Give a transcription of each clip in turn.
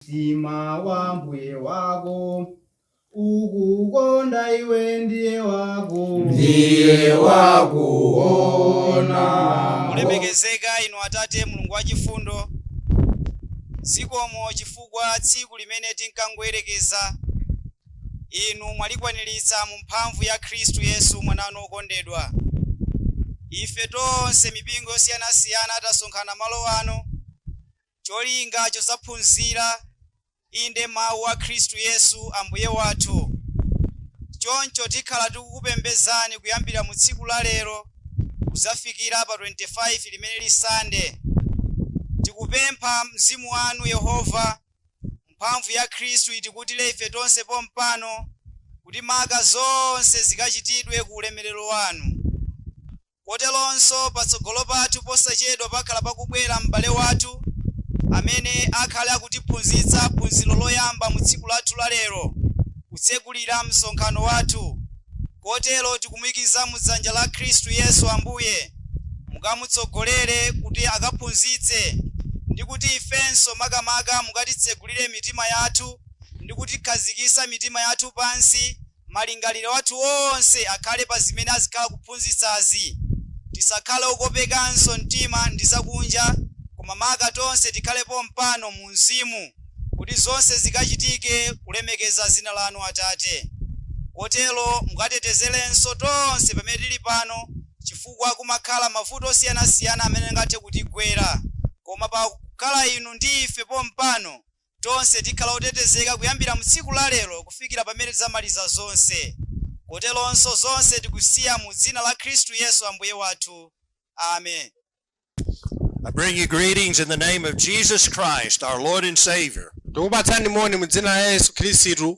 Mtima wa Mbuye wako. Ukukonda iwe ndiye wakuona. Olemekezeka inu Atate Mulungu wachifundo, zikomo chifukwa tsiku limene tinkangoyerekeza inu mwalikwaniritsa mu mphamvu ya Khristu Yesu mwana wanu okondedwa. Ife tonse mipingo yosiyanasiyana tasonkhana malo ano cholinga chodzaphunzira, inde, mawu a Khristu Yesu Ambuye wathu. Choncho tikhala tikukupembezani kuyambira mu tsiku la lero kudzafikira pa 25 limene lili Sande. Tikupempha mzimu wanu Yehova, mphamvu ya Khristu itikutire ife tonse pompano kuti maka zonse zikachitidwe ku ulemerero wanu. Koteronso, patsogolo pathu posachedwa pakhala pakubwera m'bale wathu amene akhale akutiphunzitsa phunziro loyamba mu tsiku lathu la lero, kutsegulira msonkhano wathu. Kotero tikumuikiza mu dzanja la Khristu Yesu Ambuye, mukamutsogolere kuti akaphunzitse, ndi kuti ifenso makamaka mukatitsegulire mitima yathu ndi kutikhazikitsa mitima yathu pansi, malingaliro athu onse akhale pa zimene azikhala kuphunzitsazi. Tisakhale okopekanso mtima ndi zakunja koma maka tonse tikhale pompano mu mzimu kuti zonse zikachitike kulemekeza dzina lanu Atate. Kotero mukatetezerenso tonse pamene tili pano chifukwa kumakhala mavuto osiyanasiyana amene angathe kutigwera koma pa kukhala inu ndi ife pompano Tonse tikhala otetezeka kuyambira mu tsiku la lero kufikira pamene tidzamaliza zonse. Koteronso zonse tikusiya mu dzina la Khristu Yesu Ambuye wathu. Amen. I bring you greetings in the name of Jesus Christ, our Lord and Savior. Tikupatsani moni mu dzina la Yesu Khristu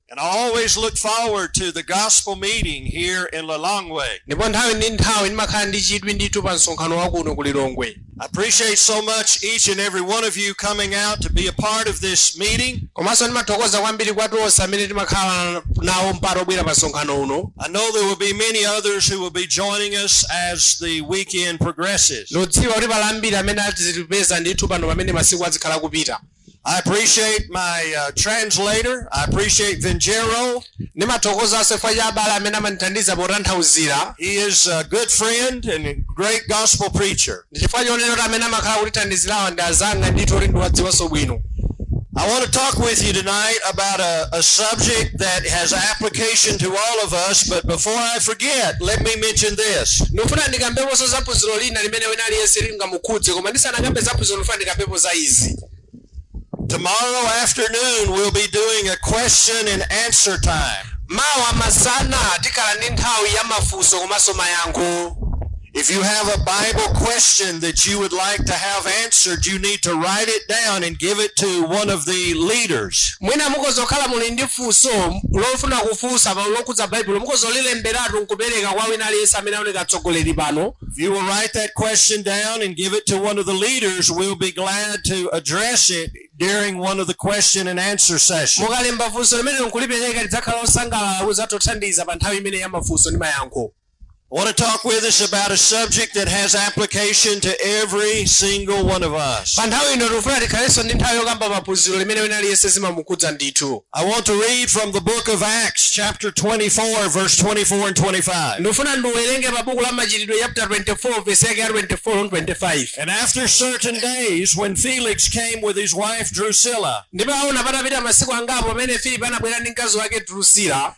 And I always look forward to the gospel meeting here in Lilongwe. ndipo nthawi ndi nthawi ndimakhala ndi chidwi ndithu pa msonkhano wakuno ku lilongwe I appreciate so much each and every one of you coming out to be a part of this meeting. komanso ndimathokoza kwambiri kwa tonse amene timakhala nawo mpata wobwera pa msonkhano uno I know there will be many others who will be joining us as the weekend progresses. ndikudziwa kuti pali ambiri amene azitipeza ndithu pano pamene masiku azikhala kupita I appreciate my uh, translator. I appreciate Vingero. Ndimathokoza chifukwa cha abale amene amandithandiza potanthauzira. He is a good friend and a great gospel preacher. Ndi chifukwa chonena kuti amene amakhala kutithandizirawa ndi azanga ndithu kuti ndiwadziwanso bwino. I want to talk with you tonight about a, a subject that has application to all of us, but before I forget, let me mention this. Ndikufuna ndikambeponso za phunziro lina limene wina aliyense linga chingamukhudze koma ndisanakambe za prison fund ndikambepo za izi Tomorrow afternoon, we'll be doing a question and answer time. mawa masana tikhala ndi nthawi ya mafunso komanso mayankho If you have a Bible question that you would like to have answered, you need to write it down and give it to one of the leaders. mwina mukhoza kukhala muli ndi funso lofuna kufunsa pano lokhudza baibulo mukhoza kulilemberatu nkupereka kwa wina aliyense amene aoneka atsogoleri pano If you will write that question down and give it to one of the leaders, we'll be glad to address it during one of the question and answer sessions. mukalemba funso limenelo nkulipereka tidzakhala osangalala kudzatothandiza pa nthawi imene ya mafunso ndi mayankho I want to talk with us about a subject that has application to every single one of us. pa nthawi ino tikufuna tikhalenso ndi nthawi yokamba maphunziro limene wina aliyense zimamukhudza ndithu I want to read from the book of Acts, chapter 24, verse 24 and 25. ndikufuna ndiwerenge pa buku la machitidwe chapter 24 vesi yake ya 24 ndi 25 And after certain days, when Felix came with his wife Drusilla, ndipo aona patapita masiku angapo pamene filipo anabwera ndi mkazi wake drusila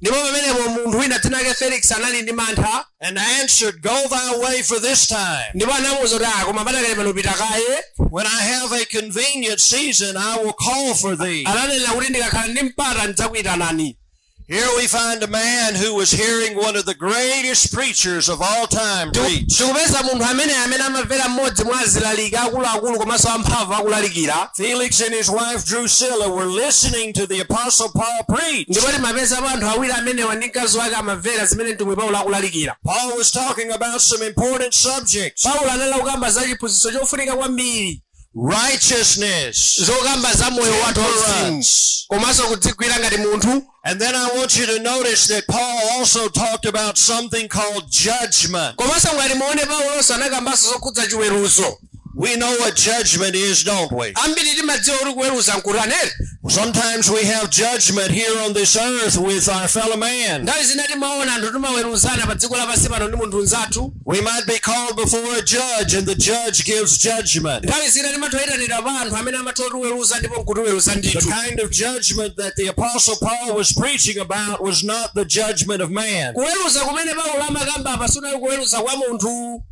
Ndipo pamenepo munthu wina dzina lake Felix anali ndi mantha. and answered, Go thy way for this time. Ndipo anamuwuza kuti, ah, koma padakali pano pita kaye. When I have a convenient season, I will call for thee. Ananena kuti ndikakhala ndi mpata ndidzakuyitanani. Here we find a man who was hearing one of the greatest preachers of all time preach. Tikupeza munthu amene amene amamvera mmodzi mwa azilaliki akuluakulu komanso amphamvu akulalikira. Felix and his wife Drusilla were listening to the Apostle Paul preach. ndipo timapeza apa anthu awiri amenewa ndi mkazi wake amamvera zimene mtumwi paulo akulalikira Paul was talking about some important subjects paulo anali kukamba za chiphunzitso chofunika kwambiri righteousness, zokamba za moyo wathu wauzimu temperance, komanso kudzigwira ngati munthu And then I want you to notice that Paul also talked about something called judgment. komanso ngati muone paulonso anakambanso zokhudza chiweruzo We know what judgment is, don't we? ambiri timadziwa kuti kuweruza nkutanere Sometimes we have judgment here on this earth with our fellow man. nthawi zina timaona anthu timaweruzana pa dziko lapansi pano ndi munthu mnzathu We might be called before a judge, and the judge gives judgment. nthawi zina timathoyitanidwa pa anthu amene amathotiweruza ndipo nkutiweruza ndithu The kind of judgment that the Apostle Paul was preaching about was not the judgment of man. kuweruza kumene paulo amakamba apa sikunali kuweruza kwa munthu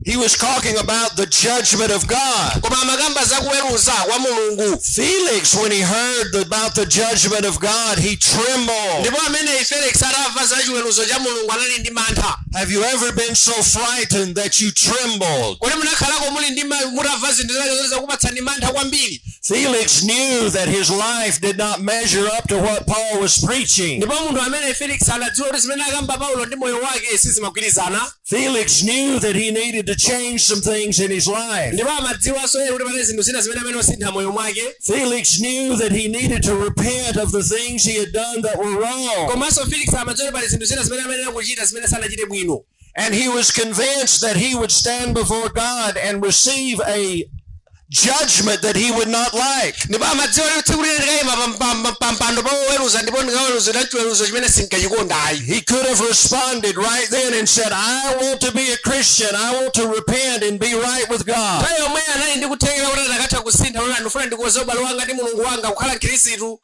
He was talking about the judgment of God. koma amakamba za kuweruza kwa mulungu Felix, when he heard about the judgment of God, he trembled. ndipo amene felix atamva za chiweruzo cha mulungu anali ndi mantha Have you ever been so frightened that you trembled? kodi munakhalako muli ndi ma- mutamva zinthu zina zake zakupatsani mantha kwambiri Felix knew that his life did not measure up to what Paul was preaching. ndipo munthu amene felix anadziwa kuti zimene akamba paulo ndi moyo wake sizimagwirizana Felix knew that he needed to change some things in his life. ndipo amadziwanso yeye kuti pali zinthu zina zimene ayenera kusintha m'moyo mwake Felix knew that he needed to repent of the things he had done that were wrong. komanso felix amadziwa kuti pali zinthu zina zimene amene ayenera kuchita zimene sanachite bwino And he was convinced that he would stand before God and receive a judgment that he would not like. ndipo amadziwa kuti tsiku lina ndikayima pampando pa woweruza ndipo ndikaweruzidwa chiweruzo chimene sindikachikonda ayi He could have responded right then and said, I want to be a Christian. I want to repent and be right with God. nthawi yomweyo anali ndi kuthekera kuti anakatha kusintha kuti ndifuna ndikonze ubale wanga ndi mulungu wanga kukhala mkhristu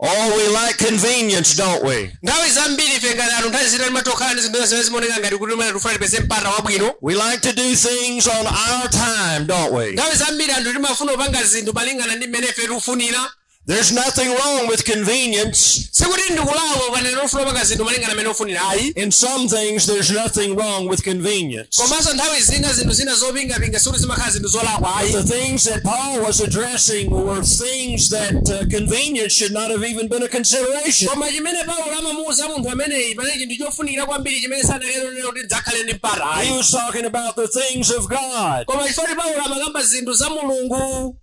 Oh, we like convenience, don't we? nthawi zambiri ife ngati anthu nthawi zina timatokhala ndi zinthu zimene zimaoneka ngati kuti mmene tifuna tipeze mpata wabwino We like to do things on our time, don't we? nthawi zambiri anthu timafuna kupanga zinthu malingana ndi mmene ife tikufunira There's nothing wrong with convenience. sikuti ndikulakwa pamene ufuna kupanga zinthu malingana mmene ufunira ayi In some things, there's nothing wrong with convenience. komanso nthawi zina zinthu zina zopingapinga sikuti zimakhala zinthu zolakwa ayi But the things that Paul was addressing were things that uh, convenience should not have even been a consideration. koma chimene paulo amamuwuza munthu ameneyi panali chinthu chofunikira kwambiri chimene sanayenera kuti ndidzakhale ndi mpata ayi He was talking about the things of God. koma chifukwa paulo amakamba zinthu za mulungu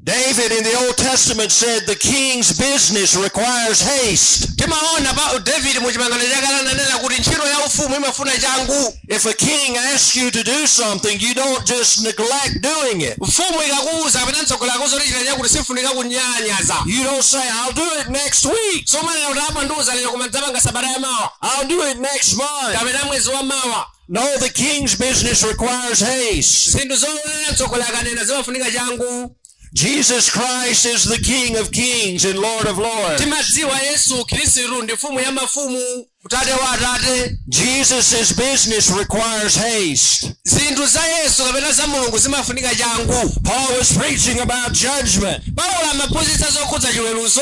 David in the Old Testament said the king's business requires haste. timaona pa david mu chipangano chakale ananena kuti ntchito ya ufumu imafuna changu If a king asks you to do something, you don't just neglect doing it. mfumu ikakuwuza kapena mtsogoleri akakuwuza kuti chita chakuti sifunika kunyalanyaza You don't say, I'll do it next week. sumanena kuti apa mwandiwuza lero koma ndidzapanga sabata ya mawa I'll do it next month. kapena mwezi wa mawa No, the king's business requires haste. zinthu zoona mtsogoleri akanena zimafunika changu Jesus Christ is the King of kings and Lord of lords. timadziwa yesu khristu ndi mfumu ya mafumu tate wa atate Jesus' business requires haste. zinthu za yesu kapena za mulungu zimafunika changu Paul was preaching about judgment. paulo amaphunzitsa zokhudza chiweruzo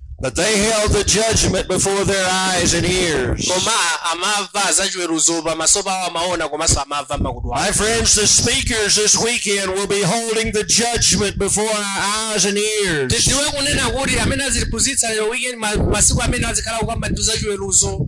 But they held the judgment before their eyes and ears. koma amava zachiweruzo pamaso pawo amaona komanso amava m'makutu awo My friends, the speakers this weekend will be holding the judgment before our eyes and ears. tidziwe kunena kuti amene azitiphunzitsa lero weekend ma- masiku amene azikhala kukamba ndi zachiweruzo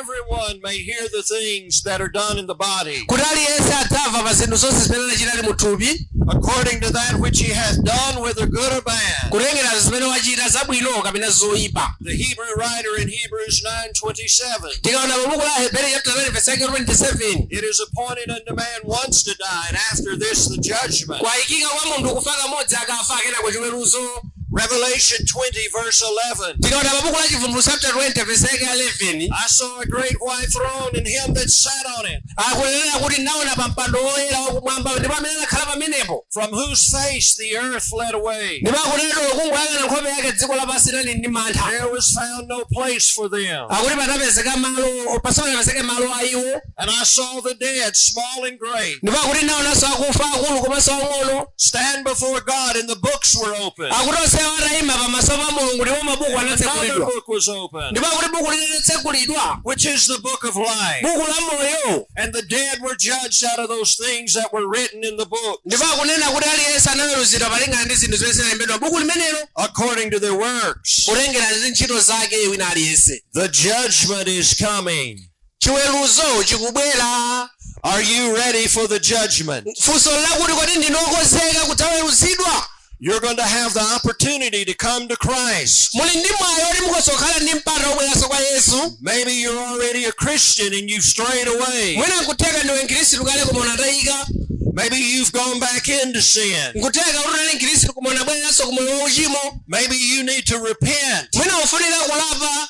everyone may hear the things that are done in the body, kuti aliyense adzamva pa zinthu zonse zimene anachita ali mu thupi according to that which he hath done, whether good or bad. kutengera zimene wachita zabwino kapena zoyipa The Hebrew writer in Hebrews 9:27. tikaona pa buku la aheberi chapter 9 verse 27 It is appointed unto man once to die, and after this the judgment. kwayikika kwa munthu kufa kamodzi akafa kenako chiweruzo Revelation 20, verse 11. tikaona pa buku la chivumbulutso chapter 20 verse yake ya 11 I saw a great white throne and him that sat on it, akunena kuti ndinaona pa mpando woyera wakumwamba ndipo amene anakhala pamenepo from whose face the earth fled away. ndipo akunenera kungoyang'ana nkhope yake dziko lapansi linali ndi mantha There was found no place for them. akuti patapezeka malo pasanapezeke malo a iwo And I saw the dead, small and great, ndipo akuti ndinaonanso akufa akulu komanso ang'ono stand before God, and the books were open. akuti onsewo ataima pamaso pa mulungu ndipo mabuku anatsekulidwa Another book was opened, ndipo akuti buku linatsekulidwa which is the book of life. buku la moyo And the dead were judged out of those things that were written in the book, ndipo akunena kuti aliyense anaweruzidwa malingana ndi zinthu zimene zinalembedwa mbuku limenelo according to their works. kutengera ndi ntchito zake wina aliyense The judgment is coming. chiweruzo chikubwera Are you ready for the judgment? funso ndi lakuti kodi ndinu okonzeka kudzaweruzidwa You're going to have the opportunity to come to Christ. muli ndi mwayi woti mukhoza kukhala ndi mpata wobweranso kwa yesu Maybe you're already a Christian and you've strayed away. mwina nkutheka ndiwe mkhristu kale koma unatayika Maybe you've gone back into sin. nkutheka kuti unali mkhristu koma unabwereranso ku moyo wauchimo Maybe you need to repent. mwina ukufunika kulapa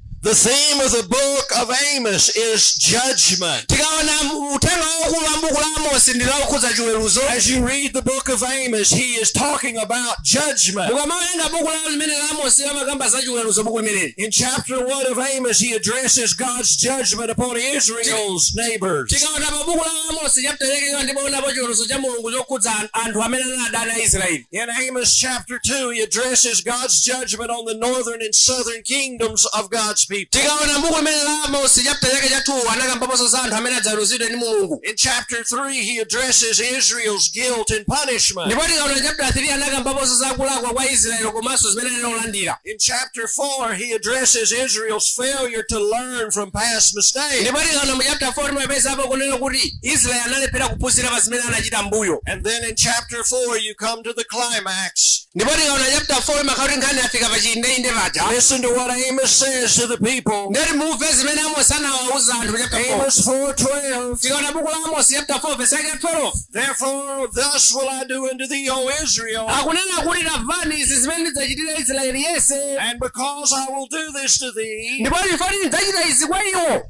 The theme of the book of Amos is judgment. tikaona uthenga waukulu wa mbuku la amosi ndi wokhudza chiweruzo As you read the book of Amos, he is talking about judgment. ukamawerenga buku la limene la amosi amakamba za chiweruzo buku limeneli In chapter 1 of Amos, he addresses God's judgment upon Israel's neighbors. tikaona pa buku la amosi chapter 1 timaonapo chiweruzo cha mulungu chokhudza an- anthu amene anali adani a israeli In Amos chapter 2, he addresses God's judgment on the northern and southern kingdoms of God's people. tikaona mbuku limeneli la amosi chapter chake cha 2 anakambaponso za anthu amene adzaweruzidwe ndi mulungu In chapter 3, he addresses Israel's guilt and punishment. ndipo tikaona chapter 3 anakambaponso za kulakwa kwa israeli komanso zimene analandira In chapter 4, he addresses Israel's failure to learn from past mistakes. ndipo tikaona mu chapter 4 timapezapo kunena kuti israeli analephera kuphunzira pa zimene anachita mbuyo And then in chapter chapter 4, you come to the climax. ndipo tikaona chapter 4 imakhala kuti nkhani yafika pa chiindeinde paja Listen to what Amos says to the people. ndiye timve zimene amosi anawawuza anthu chapter 4 Amos 4:12. tikaona buku la amosi chapter 4 verse yake 12 Therefore, thus will I do unto thee, O Israel, akunena kuti tamvani izi zimene ndidzachitira israeli yense and because I will do this to thee, ndipo chifukwa choti ndidzachita izi kwa iwo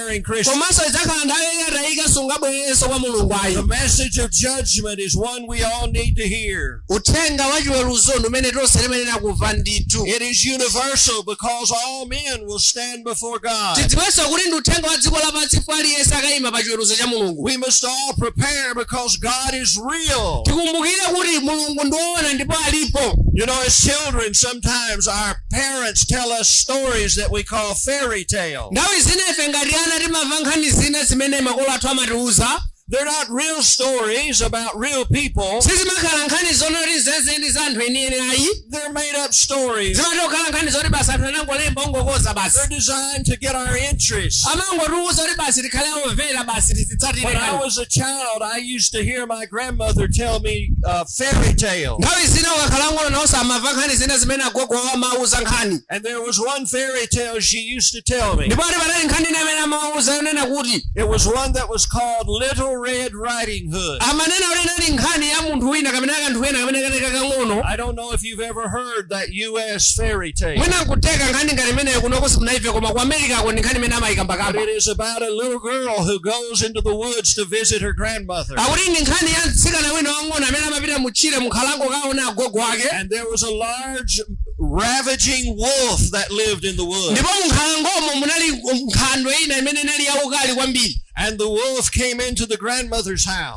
as an erring Christian. komanso idzakhala nthawi yoti wataika sungabwererenso kwa mulungu The ayi message of judgment is one we all need to hear. uthenga wa chiweruzo ndi umene tonse timayenera kumva ndithu It is universal because all men will stand before God. tidziwenso kuti ndi uthenga wa dziko lapansi ndipo aliyense akayima pa chiweruzo cha mulungu We must all prepare because God is real. tikumbukire kuti mulungu ndi woona ndipo alipo You know, as children, sometimes our parents tell us stories that we call fairy tales. Nthawi zina ife ngati ana timamva nkhani zina zimene makolo athu amatiuza. They're not real stories about real people. Sizimakhala nkhani zoona kuti nzenizeni za anthu enieni ayi. They're made up stories. Zimangokhala nkhani zoti basi anthu anangolemba zongokonza basi. They're designed to get our interest. Amangotiuza kuti basi tikhale omvera basi tizitsatire. When I was a child, I used to hear my grandmother tell me uh, fairy tales. nthawi zina atakhala ang'ono nawonso amamva nkhani zina zimene agogo awo amawauza nkhani And there was one fairy tale she used to tell me. ndipo ati panali nkhani ina imene amawauza yonena kuti It was one that was called Little Red Riding Hood. amanena kuti inali nkhani ya munthu wina kapena kanthu kena kamene kali kakang'ono I don't know if you ever heard that U.S. fairy tale. mwina nkutheka nkhani ngati imeneyo kunoko simunaimve koma ku america ko ndi nkhani imene amayikambakamba But it is about a little girl who goes into the woods to visit her grandmother. akuti ndi nkhani ya mtsikana wina wang'ono amene amapita mutchire munkhalango kaona agogo ake And there was a large ravaging wolf that lived in the woods. ndipo munkhalangomo munali nkhandwe ina imene inali yaukali kwambiri And the wolf came into the grandmother's house.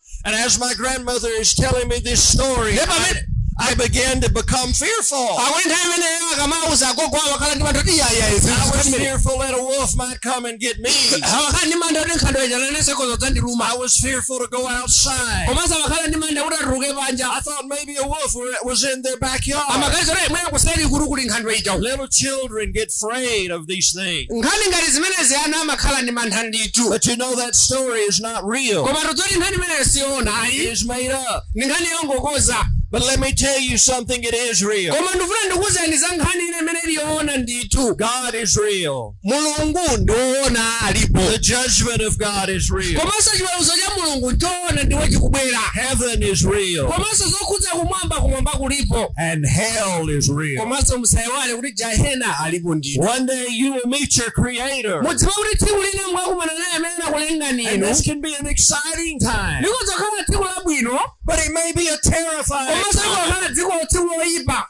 And as my grandmother is telling me this story, Ndipo I, amene- I began to become fearful. akuti nthawi imeneyo akamawauza agogo awo amakhala ndi mantha kuti iyayayi I was fearful that a wolf might come and get me. amakhala ndi mantha kuti nkhandwe ija nanenso ikhoza kudzandiluma I was fearful to go outside. komanso amakhala ndi mantha kuti atuluke panja I thought maybe be a wolf was in their backyard. amaganiza kuti mwina kuseri kuli kuli nkhandwe ija uko. Little children get afraid of these things. nkhani ngati zimenezi ana amakhala ndi mantha ndithu But you know that story is not real. koma tidziwe kuti nkhani imeneyo siyoona ayi It is made up. ndi nkhani yongokonza But let me tell you something, it is real. koma ndifuna ndikuuzeni za nkhani ina imene iliyoona ndithu God is real. Mulungu ndi woona alipo. The judgment of God is real. Komanso chiweruzo cha Mulungu nchoona ndipo chikubwera. Heaven is real. Komanso zokhudza kumwamba kumwamba kulipo. And hell is real. Komanso musaiwale kuti jahena alipo ndithu. One day you will meet your creator. Mudziwe kuti tsiku lina mukakumana naye amene anakulengani inu. And this can be an exciting time. Likhoza kukhala tsiku labwino. But it may be a terrifying time. Komanso likhoza kukhala tsiku loyipa.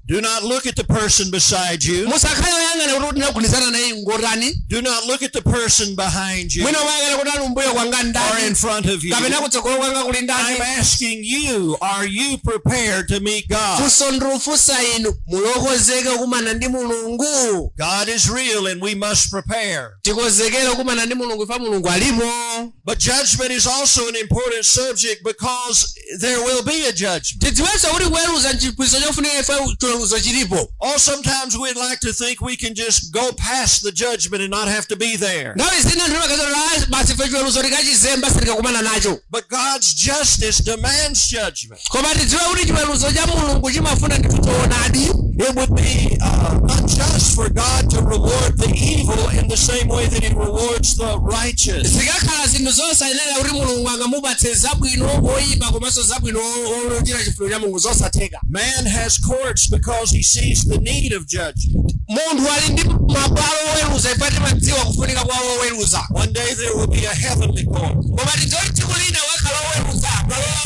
Do not look at the person beside you. musakhale oyang'ana kuti ndagundizana naye ngotani Do not look at the person behind you mwina umayang'ana kuti ali umbuyo kwanga or in ndani front of you. kapena kutsogolo kwanga kuli ndani I'm asking you, are you prepared to meet God? funso ndikufunsa inu muli okonzeka kukumana ndi mulungu God is real and we must prepare. tikonzekere kukumana ndi mulungu ifa mulungu alipo But judgment is also an important subject because there will be a judgment. tidziwenso kuti kuweruza nchiphunzitso chofunika chifukwa chiweruzo chilipo Or sometimes we'd like to think we can just go past the judgment and not have to be there. nthawi zina timaganiza basi ife chiweruzo tikachizemba sitikakumana nacho But God's justice demands judgment. koma tidziwe kuti chiweruzo cha mulungu chimafuna ndithu choonadi It would be uh, unjust for God to reward the evil in the same way that He rewards the righteous. zikakhala zinthu zosayenera kuti mulungu angamupatse zabwino oyipa komanso abwino ochita chifuniro cha mulungu zosatheka Man has courts because he sees the need of judgment. munthu ali ndi mabwalo oweruza chifukwa amadziwa kufunika kwa oweruza One day there will be a heavenly court. koma tidziwe tsiku lina kudzakhala oweruza palowa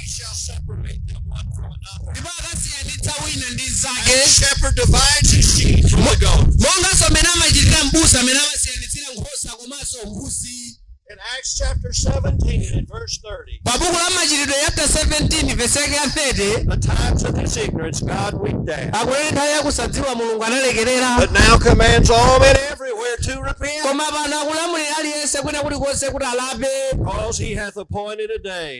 he shall separate them one from another. ndipo akasiyanitsa wina ndi And the mnzake shepherd divides his sheep from the goats. monganso mmene amachitira mbusa amene amasiyanitsira nkhosa komanso mbuzi In Acts chapter 17 and verse 30, pa buku la machitidwe chapter 17 verse yake ya 30 the times of his ignorance God winked at, akuti nthawi yakusadziwa mulungu analekerera but now commands all men everywhere to repent, koma pano akulamulira aliyense kwina kulikonse kuti alape because he hath appointed a day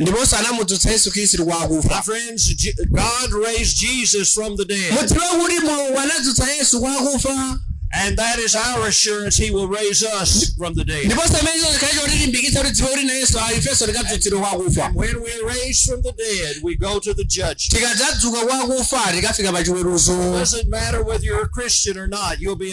ndiponso anamudzutsa yesu khristu kwa My akufa friends, Je- God raised Jesus from the dead, mudziwe kuti mulungu anadzutsa yesu kwa akufa and that is our assurance He will raise us from the dead. ndiponso chimenecho chikhale chotilimbikitsa kuti tidziwe kuti na yesu ali ifenso tikadzutsidwa kwa akufa And when we are raised from the dead, we go to the judgment. tikadzadzuka kwa akufa tikafika pa chiweruzo Doesn't matter whether you're a Christian or not, you'll be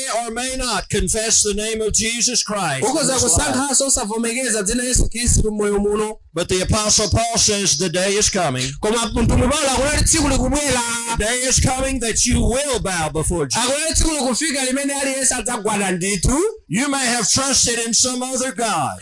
or may not confess the name of Jesus Christ. ukhoza kusankhanso osavomekeza dzina la yesu khristu mmoyo muno But the Apostle Paul says the day is coming. koma mtumwi paulo akunena tsiku likubwera The day is coming that you will bow before Jesus. akunena tsiku likufika limene aliyense adzagwada ndithu You may have trusted in some other God.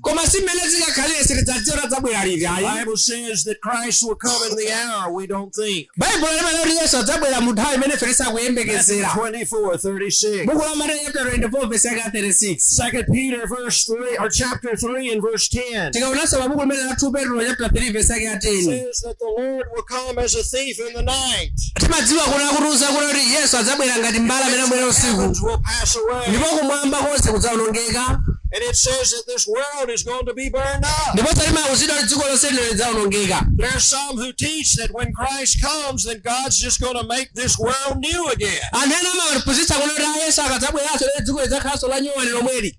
koma si mmene zikakhalire sitidzadziwa kuti adzabwera liti The ayi Bible says that Christ will come in the hour we don't think. baibulo limanena kuti yesu adzabwera mu nthawi imene ife Matthew sitikuyembekezera 24, 36. buku la mateyu chapter 24 verse yake ya 36 Second Peter verse three or chapter three and verse ten tikaonanso pa buku limene la 2 petro chapter 3 verse yake ya 10 says that the Lord will come as a thief in the night. timadziwa kuti akutiuza kunena kuti yesu adzabwera ngati mbala amene abwera usiku Heavens will pass away. ndipo kumwamba konse kudzawonongeka And it says that this world is going to be burned up. ndiponso timauzidwa kuti dziko lonse lino lidzawonongeka There are some who teach that when Christ comes, then God's just going to make this world new again. anthu ena amaphunzitsa kunena kuti a yesu akadzabweranso lero dziko lidzakhalanso la nyuwani lomweli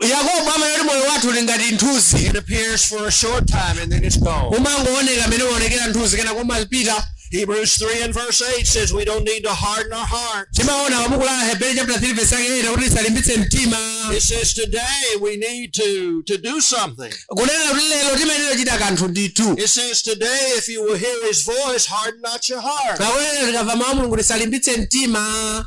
yakobo amanena kuti moyo wathu uli ngati nthunzi It appears for a short time and then it's gone. umangooneka amene umaonekera nthunzi kenako mapita Hebrews 3 and verse 8 says we don't need to harden our hearts. timaona pabuku la aheberi chapter 3 verse yake 8 kuti tisalimbitse mtima It says today we need to, to do something. kunena kuti lero timayenera kuchita kanthu ndithu It says today if you will hear his voice, harden not your heart. pakunena tikamva mawu a mulungu tisalimbitse mtima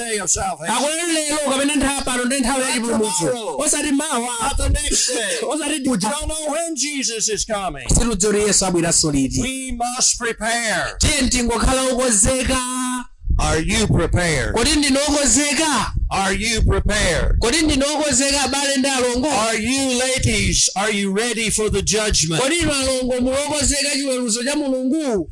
day of salvation. akunena lero kapena nthawi ya pano ndi nthawi ya chipulumutso osati mawa Not the next day. osati We kuja don't know when Jesus is coming. sitidziwa kuti yesu abweranso liti We must prepare. tiye tingokhala okonzeka Are you prepared? kodi ndinu okonzeka Are you prepared? kodi ndinu okonzeka abale ndi alongo Are you ladies? Are you ready for the judgment? kodi inu alongo muli okonzeka chiweruzo cha mulungu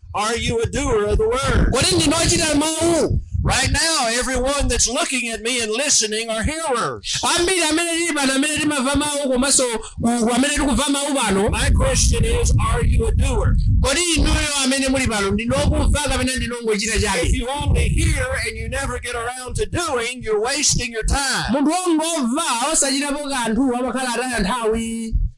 Are you a doer of the word? Kodi ndinu ochita mawu? Right now, everyone that's looking at me and listening are hearers. ambiri amene tili pano amene timamva mawu komanso ku- amene tikumva mawu pano My question is, are you a doer? kodi inuyo amene muli pano ndinu okumva kapena ndinu ongochita If chabe you only hear and you never get around to doing, you're wasting your time. munthu wongomva osachitapo kanthu amakhala ataya nthawi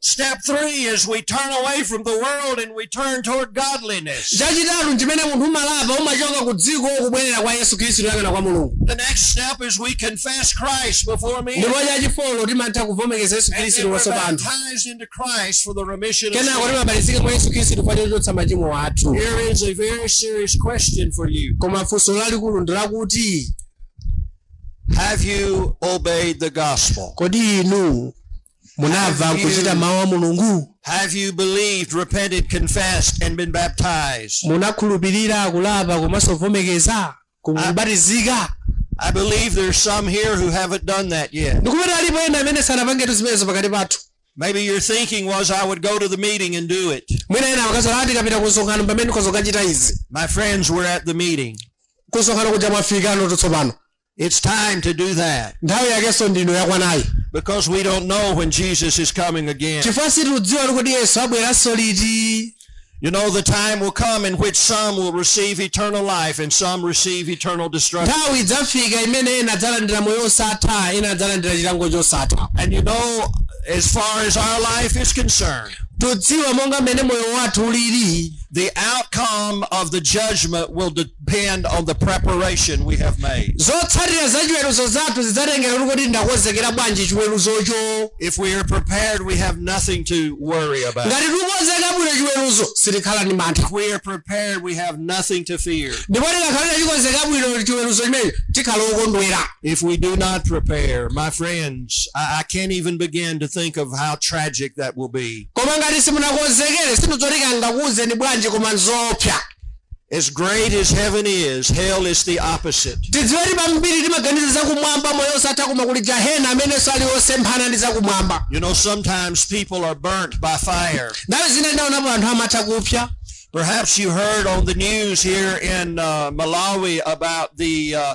Step three is we turn away from the world and we turn toward godliness. chachitatu nchimene munthu umalapa umachoka ku dziko kubwerera kwa yesu khristu kuyang'ana kwa mulungu The next step is we confess Christ before men ndipo chachifolo timatha kuvomekeza yesu and khristu then we're kumaso pa anthu baptized into Christ for the remission of kenako sin. timabatizika mwa yesu khristu pa chochotsa machimo athu Here is a very serious question for you. koma funso lalikulu ndi lakuti Have you obeyed the gospel? kodi inu munamva Have nkuchita you- mawu a mulungu Have you believed, repented, confessed, and been baptized? munakhulupirira kulapa komanso kuvomekeza kubatizika I believe there's some here who haven't done that yet. ndikupeza kuti alipo ena amene sanapangetu zimenezo pakati pathu Maybe your thinking was, I would go to the meeting and do it. mwina ena akanena kuti ndikapita kumsonkhano mpamene ndikadzakachita izi My friends we're at the meeting. kumsonkhano kuja mwafikano tsopano It's time to do that. nthawi yakenso ndi ino yakwanayi Because we don't know when Jesus is coming again. chifukwa sitikudziwa ali kuti yesu abweranso liti You know, the time will come in which some will receive eternal life and some receive eternal destruction. nthawi idzafika imene ena adzalandira moyo osatha ena adzalandira chilango chosatha And you know, as far as our life is concerned, tidziwa monga mmene moyo wathu ulili the outcome of the judgment will de- depend on the preparation we have made. zotsatira za chiweruzo zathu zidzatengera kuti kodi ndakonzekera bwanji chiweruzocho If we are prepared, we have nothing to worry about. ngati tikukonzekera bwino chiweruzo sitikhala ndi mantha If we are prepared, we have nothing to fear. ndipo tikakhala tachikonzekera bwino chiweruzo chimenecho tikhala okondwera If we do not prepare, my friends, I, I can't even begin to think of how tragic that will be. koma ngati simunakonzekere sindidziwa kuti ndingakuwuzeni bwanji koma nzoopsa As great as heaven is, hell is the opposite. tidziwe kuti kambiri timaganiza zakumwamba moyo osatha koma kuli jahena amenenso ali osemphana ndi zakumwamba You know, sometimes people are burnt by fire. nthawi zina ndaonapo anthu amatha kupsya Perhaps you heard on the news here in uh, Malawi about the uh,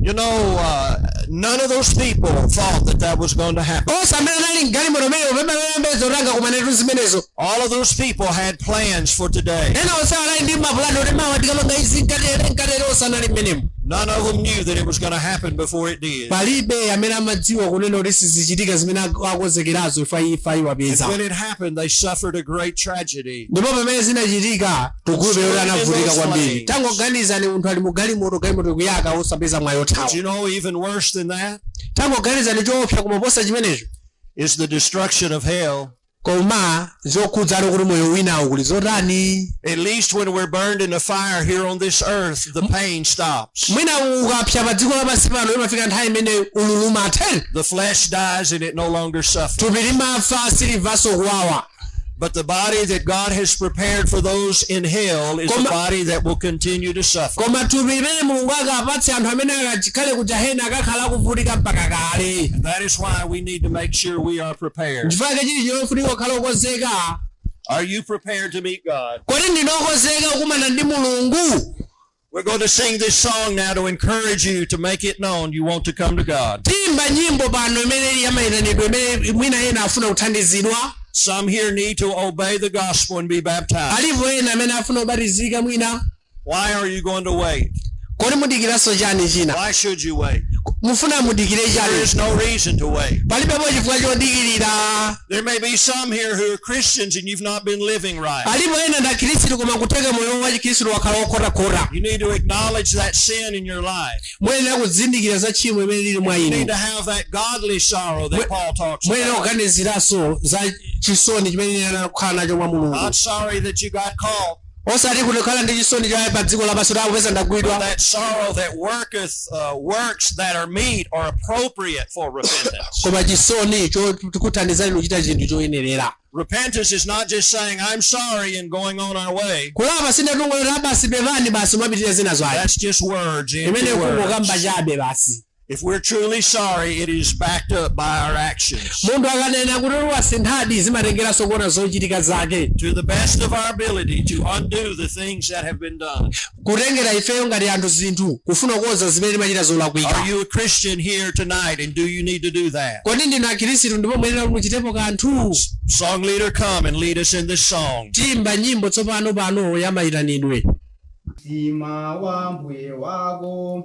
You know, uh, none of those people thought that that was going to happen. onse amene anali mgalimoto imeneyo palibe anayembekeza kuti angakumane ndi zimenezo All of those people had plans for today. ena onse anali ndi mapulani kuti mawa tikapanga izi nkatere nkatere onse anali mmenemo None of them knew that it was going to happen before it did. palibe amene amadziwa kunena kuti sizichitika zimene ak- akonzekerazo imfa imfa And iwapeza when it happened, they suffered a great tragedy. ndipo pamene zinachitika tikumva zoti anavutika kwambiri tangoganizani munthu ali mu galimoto galimoto ikuyaka osapeza mwayi But wothawa you know, even worse than that tangoganizani choopsa kuposa chimenecho is the destruction of hell. koma zokhudza ali kuti moyo winawo kuli zotani At least when we're burned in a fire here on this earth, the pain stops. mwina ukapsa pa dziko lapansi pano imafika nthawi imene ululu umatha The flesh dies and it no longer suffers. thupi limafa silimvanso kuwawa But the body that God has prepared for those in hell is a Koma- body that will continue to suffer. koma thupi limene mulungu akapatse anthu amene akakhale ku jahena akakhala akuvutika mpaka kale That is why we need to make sure we are prepared. nchifukwa chake chili chofunika kukhala okonzeka Are you prepared to meet God? kodi ndinu okonzeka kukumana ndi mulungu We're going to sing this song now to encourage you to make it known you want to come to God. tiimba nyimbo pano imene ili yamayitanidwe mmene mwina ena afuna kuthandizidwa Some here need to obey the gospel and be baptized. alipo ena amene afuna kubatizika mwina Why are you going to wait? kodi mudikiranso chani china Why should you wait? mufuna mudikire There chani is no reason to wait. palibepo chifukwa chodikirira There may be some here who are Christians and you've not been living right. alipo ena ndi akhristu koma kutheka moyo wa chikhristu wakhala wokhotakhota You need to acknowledge that sin in your life. muyenera kuzindikira za tchimo limene lili mwa You need inu to have that godly sorrow that Mwe- Paul talks muyenera about. kuganiziranso za chisoni chimene ine anakhala nacho mwa mulungu Not sorry that you got caught. osati kukhala ndi chisoni cha pa dziko lapansi kuti akupeza ndagwidwa That sorrow that worketh uh, works that are meet or appropriate for repentance. koma chisoni chokuthandizani kuchita chinthu choyenerera repentance is not just saying, I'm sorry and going on our way. kulapa si kungonena basi pepani basi mwapitirira zina zake That's just words, empty imeneyo words. kungokamba chabe basi If we're truly sorry, it is backed up by our actions. munthu akanena kuti wasinthadi zimatengeranso kuona zochitika zake To the best of our ability to undo the things that have been done. kutengera ifeyo ngati anthu zinthu kufuna kukonza zimene timachita zolakwika Are you a Christian here tonight and do you need to do that? kodi ndinu akhristu ndipo muyenera kuti muchitepo kanthu Song leader, come and lead us in this song. tiyimba nyimbo tsopano pano ya mayitanidwe Mtima wa mbuye wako